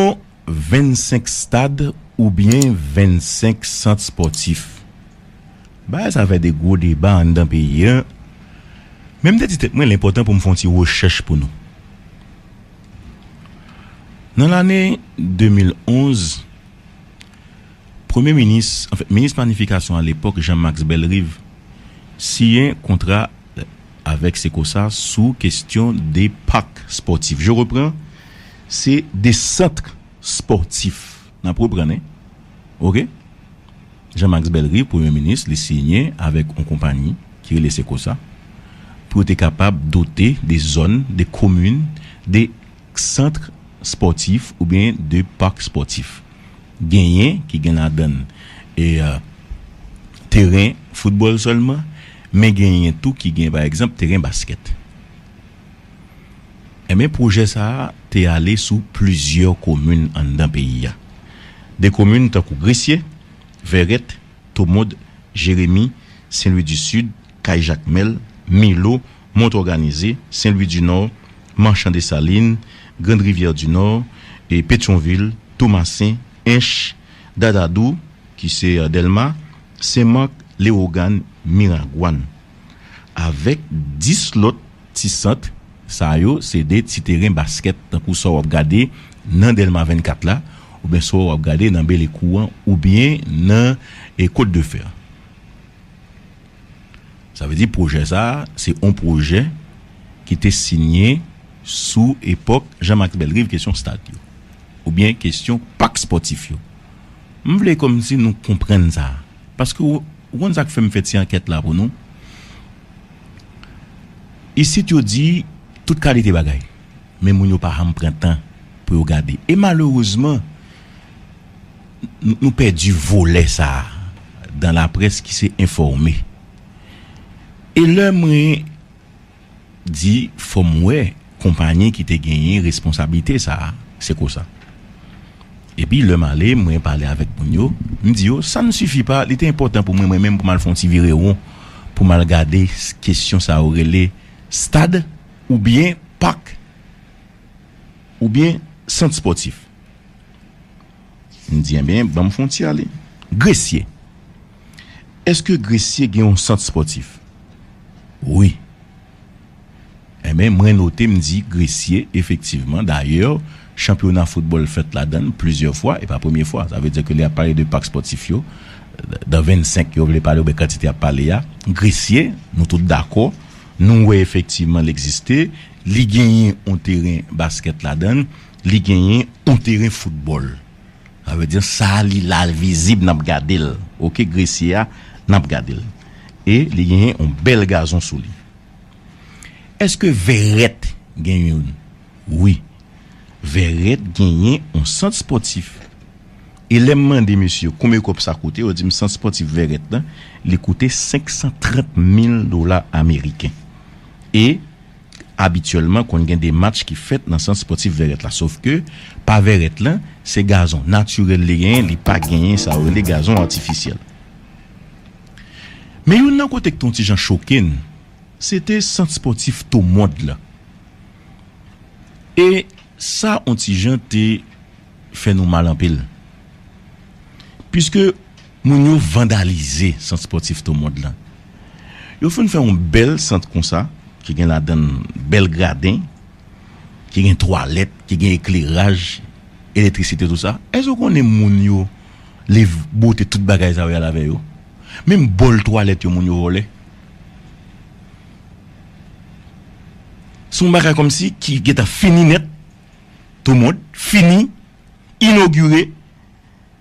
Yon 25 stad oubyen 25 sant spòtif. Bagay sa fè de gwo deba anndan peyi an, men m te di tèt mwen l enpòtan pou m fè yon ti rechèch pou nou. Nan lane 2011, premye minis, anfen minis planifikasyon alepòk Jean Max Bellerive siyen kontra avèk Secosa sou kestyon de pak spòtif. Je repran. Se de centre sportif nap reprann wi ok Jean Max Bellerive premye minis li siyen avèk yon konpayi ki rele Secosa pou yo te kapab dote de zòn de komin de centre sportif oubyen de parc sportif genyen ki gen ladann teren football sèlman men genyen tou ki gen pa egzanp teren basket. Enben pwojè sa a te ale sou plizyè komin anndan peyi a. De komin tankou Gresye, Vèrèt, Tomond, Jeremi, Sen Lwi di Sid, Kay Jakmèl, Milo, Mont Òganize, Sen Lwi di Nò, Manchan Desalin, Grand Rivyè di Nò, Petyonvil, Tomasen, Ench, Dadadou, ki se Dèlma, Sen Mak, Lewogàn, Miragwàn. avèk 10 lòt ti sant, sa yo se de ti teren baskèt tankou sa w ap gade nan Dèlma 24 la oubyen sa w ap gade nan Belekou an oubyen nan Kot de Fè. Sa vle di pwojè sa a se on pwojè ki te sinye sou epòk Jan Maks Bèlriv kesyon stad yo oubyen kesyon pak spòtif yo. M vle kòmsi nou konprann sa a paske w. Ou konn sa k fè m fè ti ankèt la pou nou? Isit yo di tout kalite bagay, men moun yo pa janm pran tan pou yo gade. E malerezman, nou pèdi volè sa a dan laprès ki se enfòme. E lè mwen di fòm wè konpanye ki te genyen responsablite sa a se kosa epi lèm ale mwen pale avèk moun yo m di yo sa n sifi pa li te enpòtan pou mwen mwen menm pou m al fon ti vire won pou m al gade kesyon sa yo rele stad oubyen pak oubyen sant spòtif. M di enben banm fon ti ale. Gresye, Eske Gresye gen yon sant spòtif? Wi. Enben mwen note m di Gresye efektivman dayè chanpyona foutbòl fèt ladann plizyè fwa e pa premye fwa sa vle di ke lè yap pale de pak spòtif yo dan 25 yo vle pale oubyen kantite yap pale a Gresye nou tout dakò nou wè efektivman l egziste li genyen yon teren baskèt ladann. Li genyen on teren foutbòl. Sa vle di sa a li la l vizib n ap gade l ok gresye a n ap gade l e li genyen on bèl gazon sou li. Èske vèrèt gen youn? Wi. Vèrèt genyen on sant spòtif. E lè m mande mesye yo konbyen kòb sa koute yo di m sant spòtif vèrèt lan li koute 530 mil dola ameriken. E Abityèlman konn gen dematch ki fèt nan sant spòtif Vèrèt la sof ke pa Vèrèt lan se gazon natirèl li genyen li pa genyen sa yo rele gazon atifisyèl. Men youn nan kote k te yon ti jan choke n se te sant spòtif Tomond lan e sa yon ti jan te fè nou mal anpil piske Moun yo vandalize sant spòtif To Mond lan. Yo fin fè yon bèl sant konsa ki gen ladan l bèl graden, ki gen twalèt, ki gen ekleraj, elektrisite tout sa. Èske ou konnen moun yo liv bote tout bagay sa yo y al avè yo? Menm bòl twalèt yo moun yo vòlè. Se yon bagay kòmsi ki gentan fini nèt. To Mond fini, inogire.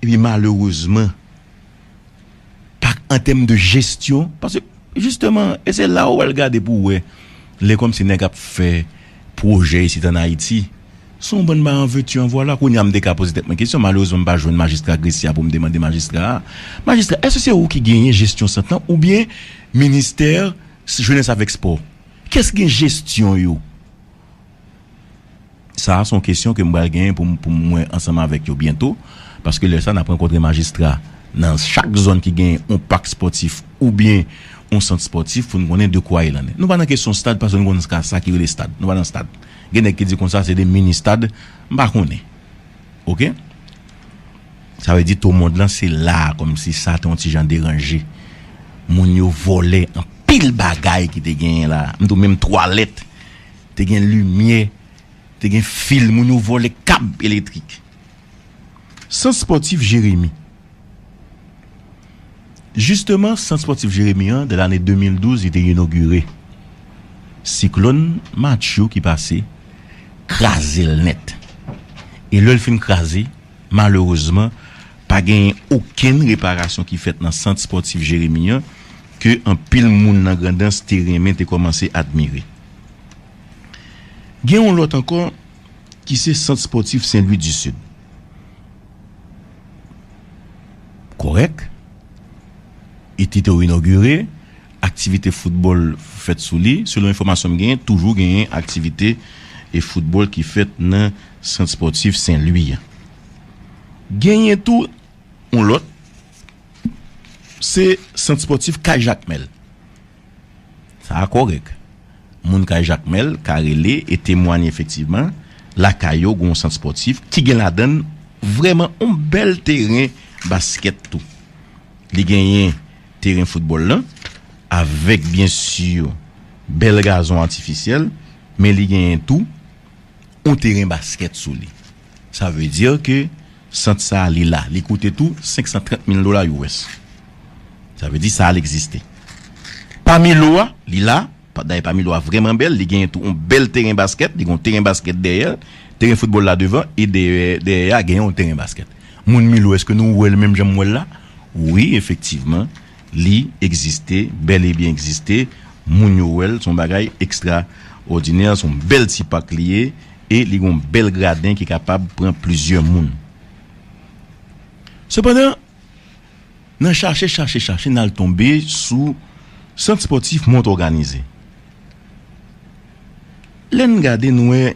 Epi malerezman pa an tèm de jesyon paske jisteman e se la ou al gade pou wè lè kòmsi nèg ap fè pwojè isit an Ayiti se yon bann ba an veux tu en voilà kounye a m te ka poze tèt mwen kesyon malerezman m pa jwenn majistra Gresye a pou m te mande majistra a majistra èske se ou ki genyen jesyon sant lan oubyen ministè jenès avèk spò kiyès ki gen jesyon yo? Sa a se yon kesyon ke m pral genyen pou m pou m wè ansanm avèk yo byento, paske lè sa a n ap rankontre majistra nan chak zòn ki genyen yon pak spòtif oubyen yon sant spòtif pou n konnen de kwa il en est. Nou pa nan kesyon stad paske nou konnen ska sa ki rele stad. Nou pa nan stad. Gen nèg ki di konsa se de mini stad, m pa konnen. Ok. Sa vle di to mond lan se la a kòm si sa te yon ti jan deranje. Moun yo vòlè anpil bagay ki te genyen la a. M di w menm twalèt te gen limyè, te gen fil, moun yo vole kab elektrik. Sant spòtif Jeremi Jisteman, sant spòtif Jeremi an, nan lane 2012, li te inogire. Siklòn Matthew ki pase, kraze l nèt. E lè l fin kraze, malerezman, Pa genyen okenn reparasyon ki fèt nan sant spòtif Jeremi an ke anpil moun nan Grandans te renmen te kòmanse admire. Gen yon lòt ankò ki se sant spòtif Sen Lwi di Sid. Kòrèk, e te tou inogire, aktivite foutbòl fèt sou li. Selon enfòmasyon m genyen, toujou genyen aktivite foutbòl ki fèt nan sant spòtif Sen Lwi an. Genyen tou yon lòt, se sant spòtif Kay Jakmèl. Sa a kòrèk. Moun Kay Jakmèl ka rele e temwanye efektivman lakay yo gen yon sant spòtif ki gen ladan l vrèman yon bèl teren baskèt tou. Li genyen teren foutbòl lan avèk byen si bèl gazon atifisyèl men li genyen tou. on teren basket sou li. Sa vle di ke sant sa li la, li koute tou 530 mil dola US. Sa vle di sal egziste. Pami lo a, li la, dayè pami lo a vrèman bèl, li genyen tou on bèl teren basket, li gen on teren basket dèyèl, teren foutbòl la devan e dèyè a genyen on teren basket. Moun Milo eske nou wèl menm janm wèl la? Wi efektivman Li egziste, bèl e byen egziste, moun yo wè l, s on bagay ekstra òdinè, s on bèl ti pak li ye e li gen yon bèl graden ki kapab pran plizyè moun. Sepandan, nan chache, chache, chache n al tonbe sou Sant Spòtif Mont Òganize. Lè n gade n wè.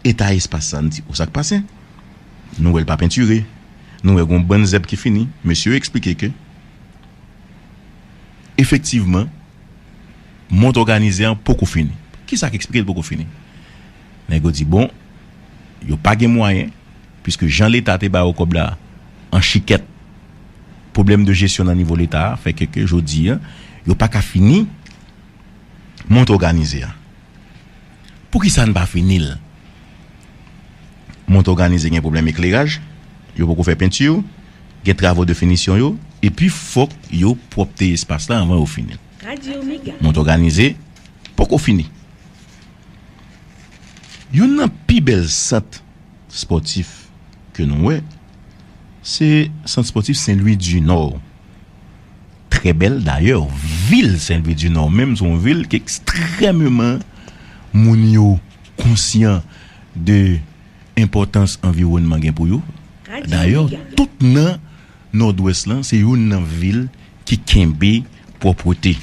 Eta espas sa, m di o sak pase? Nou wè l pa pentire, nou wè gon bann zèb ki fini, mesye yo eksplike ke efektivman mont òganize an poko fini. Kisa k eksplike l poko fini? Nèg yo di bon yo pa gen mwayen puiske jan leta te ba yo kòb la an chikèt, pwoblèm de jesyon nan nivo leta a fè ke ke jodi an yo paka fini mont òganize an. Poukisa n pa fini l? Mont òganize gen pwoblèm ekleraj, yo poko fè penti, gen travo de finisyon yo, epi fòk yo pwòpte espas la anvan yo fini l. Mont òganize poko fini. Youn nan pi bèl sant spòtif ke nou wè, se sant spòtif Sen Lwi di Nò. Trè bèl dayè vil Senlvidinò menm se yon vil ki ekstrèmeman moun yo konsyan de enpòtans anviwònman gen pou yo. Dayè tout nan Nòdwès lan se youn nan vil ki kenbe pwòpwete.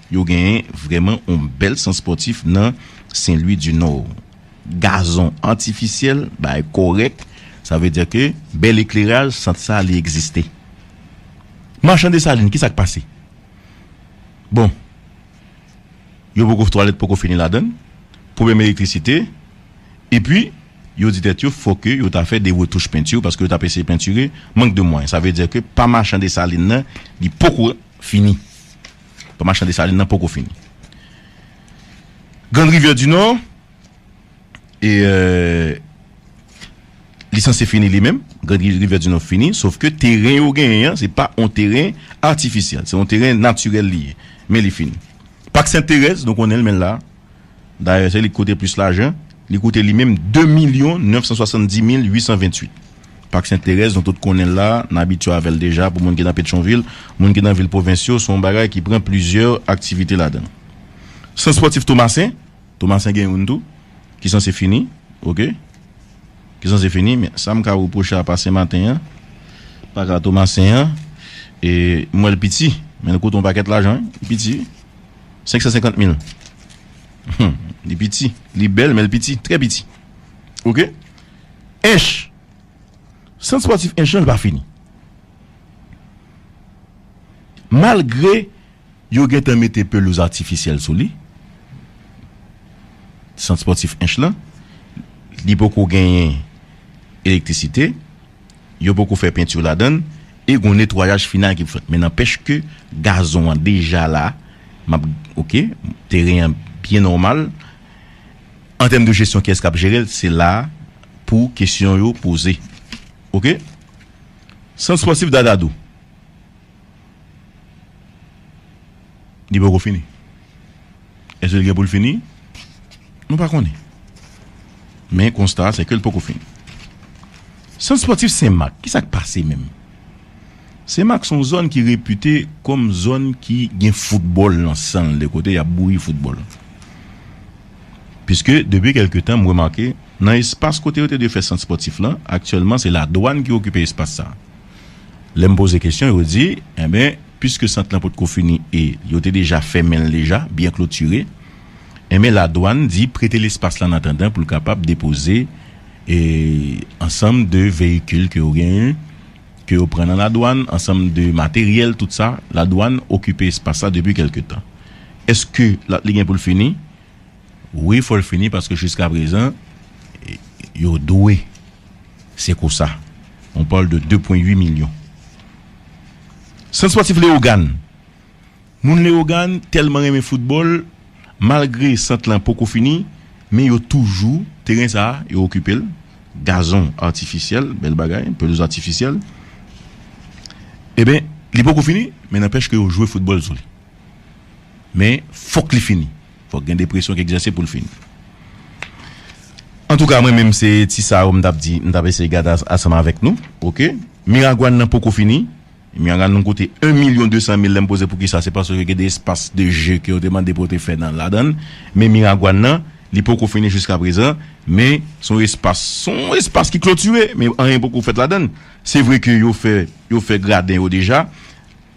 Yo gen vrèman yon bèl sant spòtif nan Senlwidinò. Gazon atifisyèl bagay kòrèk sa vle di ke bèl ekleraj sant sa li egziste. Machan Desalin ki sa k pase? Bon, yo poko twalèt poko fini ladan l, pwoblèm elektrisite, epi yo di tèt yo fò ke yo ta fè de retouch penti paske yo t ap eseye pentire, mank de mwayen. Sa vle di ke pa Machan Desalin nan li poko fini. Pa Machan Desalin nan poko fini. Grande Rivière du Nord. E li sanse fini li menm, Grand Rivière du Nord fini, sof ke teren yo genyen an, se pa yon teren atifisyèl, se yon teren natirèl li ye, men li fini. Pak Sent Terèz, nou konnen l men l la, dayè se li ki koute plis lajan, li koute li menm 2 milyon 970 mil 828. Pak Sent Terèz nou tout konnen l la, n abitye avè l deja pou moun ki nan Petchonvil, moun ki nan vil pwovens yo, se yon bagay ki pran plizyè aktivite ladan l. Sant Spòtif Tomasen. Tomasen gen youn tou ki sanse fini ok ki sanse fini men sam ka repwoche a pa senmaten an pa ka tomasen an e m wèl piti men l koute yon pakèt lajan wi li piti wi senksan senkant mil humm li piti li bèl men l piti trè piti ok ench sant spòtif ench lan li pa fini malgre Yo gentan mete pelouz atifisyèl sou li, sant spòtif Ench lan. Li poko genyen elektrisite, yo poko fè penti ladan l e gon netwayaj final ki pou fèt. Men nanpèch ke gazon an deja la, m ap, ok, teren an byen nòmal. An tèm de jesyon kiyès k ap jere l, se la pou kesyon yo poze. Ok. Sant spòtif Dadadou. Li poko fini. Èske li gen pou l fini? Nou pa konnen. Men konsta a se ke l poko fini. Sant spòtif Sen Mak, ki sa k pase menm? Sen Mak se yon zòn ki repite kòm zòn ki gen foutbòl nan san l, de kote y ap bouyi foutbòl. Piske depi kèlke tan m remake nan espas kote yo te dwe fè sant spòtif lan, aktyèlman se ladwàn ki okipe espas sa. Lè m poze kesyon yo di, enben, piske sant lan potko fini e yo te deja fèmen l deja, byen klotire, enben ladwann di prete l espas la an atandan pou l kapab depoze ansanm de veyikil ke yo genyen, ke yo pran nan ladwann, ansanm de materyèl, tout sa, ladwann okipe espas la depi kèlke tan. Eske li gen pou l fini? Wi fol fini paske jiska prezan yo dwe se kosa on parle de 2 pwen 8 milyon sant spòtif leogàn moun leogàn tèlman renmen foutbòl malgre sant lan poko fini men yo toujou teren sa yo okipel gazon atifisyèl bèl bagay pelouz atifisyèl eben li poko fini men nanpèch ke yo jwe foutbòl sou li men fòk li fini. Fòk gen depresyon k egzèse poul fin. Antouka mwen menm se ti sa yo m tap di m tap eseye gade asanm avèk nou ok miragwàn nan poko fini miragwàn nan koute 1 milyon 200 mil lèm poze poukisa se paske gen de espas de je ke yo te mande pou yo te fè nan ladann men miragwàn nan li poko fini jiska prezan men son espas son espas ki klotire men anyen poko fèt ladann se vre ke yo fè yo fè graden yo deja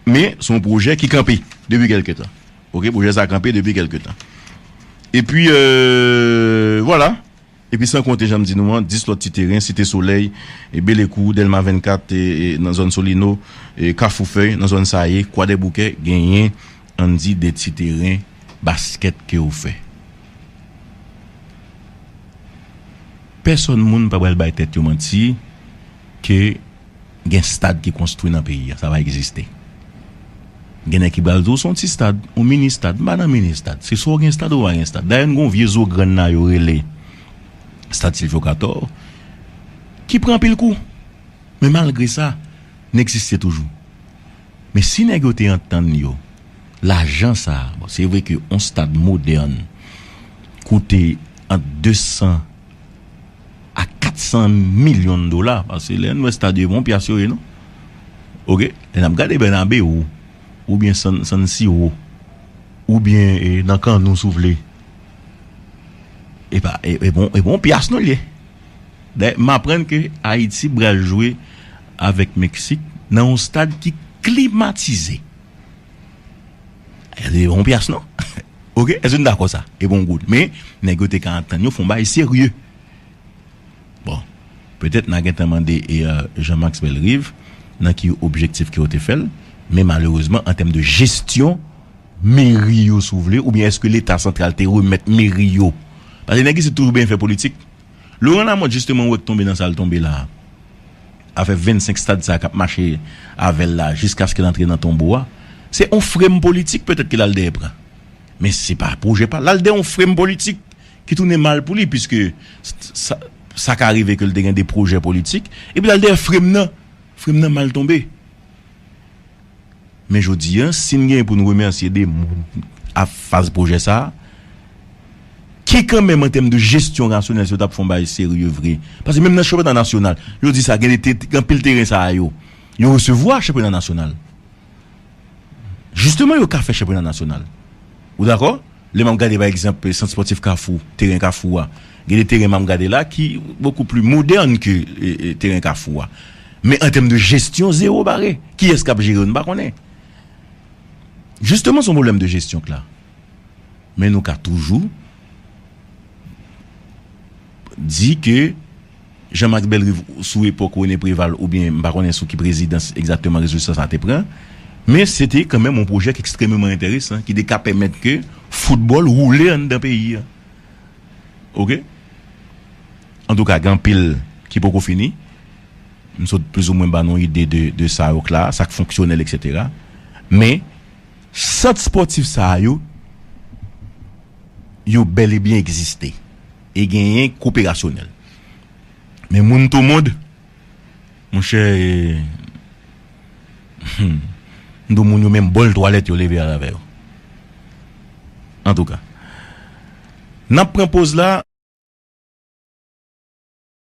men son pwojè ki kanpe depi kèlke tan. Ok pwojè sa kanpe depi kelke tan. Epi vwala. Epi san konte janm di nou an 10 lòt ti teren Site Solèy, Belekou, Dèlma 24 nan zòn Solino, Kafou Fèy nan zòn Saye, Kwadèboukè genyen ann di 2 ti teren baskèt ke ou fè. Pèsòn moun pa pral bay tèt yo manti ke Gen stad ki konstwi nan peyi a sa pa egziste. Gen nèg ki pral di w se yon ti stad, yon mini stad. M pa nan mini stad. Se swa w gen stad ou pa gen stad. Dayè n gen yon vye zo grann la yo rele stad Silvyo Katò ki pran anpil kou. Men malgre sa n egziste toujou. Men si nèg yo te antann yo lajan sa a, bon se vre ke yon stad modèn koute ant 200 a 400 milyon dola pase lè n wè stad yo e bon pyas yo ye non ok lè nap gade bènabeu oubyen san siro oubyen nan kan nou si w vle epa e bon e bon pyas nou l ye dè m aprann ke ayiti pral jwe avèk meksik nan yon stad ki klimatize. Sa se yon pyas non ok eske nou dakò sa e gon goud men nèg yo te ka antann yo fon bagay serye bon petèt na gentan mande Jean Max Bellerive nan ki objektif ke yo te fèl men malerezman an tèm de jesyon meri yo si w vle oubyen eske leta santral te remèt meri yo paske nèg isit toujou benyen fè politik. Laurent Lamothe jisteman wè k tonbe nan sa l tonbe la a. Afè 25 stad sa a k ap mache avè l la jiskaske l antre nan tonbo a. Se yon frem politik petèt ke l al dèyè pran. Men se pa pwojè pa l. L al dèyè yon frem politik ki tounen mal pou li piske sa ka rive ke l te gen de pwojè politik. Epi l al dèyè frem nan. Frem nan mal tonbe. Men jodi a, si n gen pou n remèsye de moun a faz pwojè sa a, ki kanmenm an tèm de jesyon rasyonèl si yo t ap fè yon bagay serye vre, paske menm nan chanpyona nasyonal, yo di sa, gen de te, gen anpil teren sa a yo, yo resevwa chanpyona nasyonal. Jisteman yo ka fè chanpyona nasyonal. Ou dakò? Lè m ap gade pa egzanp Sant Spòtif Kafou, teren Kafou a, gen de teren m ap gade la ki bokou pli modèn ke teren Kafou a. Men an tèm de jesyon, zewo bare. Kiyès k ap jere yo? Nou pa konnen. Jisteman se yon pwoblèm de jesyon k la. Men nou ka toujou di ke Jean Max Bellerive sou epòk René Préval oubyen m pa konnen sou ki prezidans egzakteman rezolisyon sa a te pran, men se te kanmenm yon pwojè ki ekstrememan enteresan ki te ka pèmèt ke foutbòl woule anndan peyi a. Oke. Antouka gen anpil ki poko fini. M sot plizoumwen ba nou yon ide de sa yo k la, sa k fonksyonèl eksetera. Men, sant spòtif sa yo, yo bèlebyen egziste. e genyen koperasyonèl. Men moun to mond, monchè e humm mdo moun yo menm bòl twalèt yo leve al avè yo. Antouka. Nap pran poz la.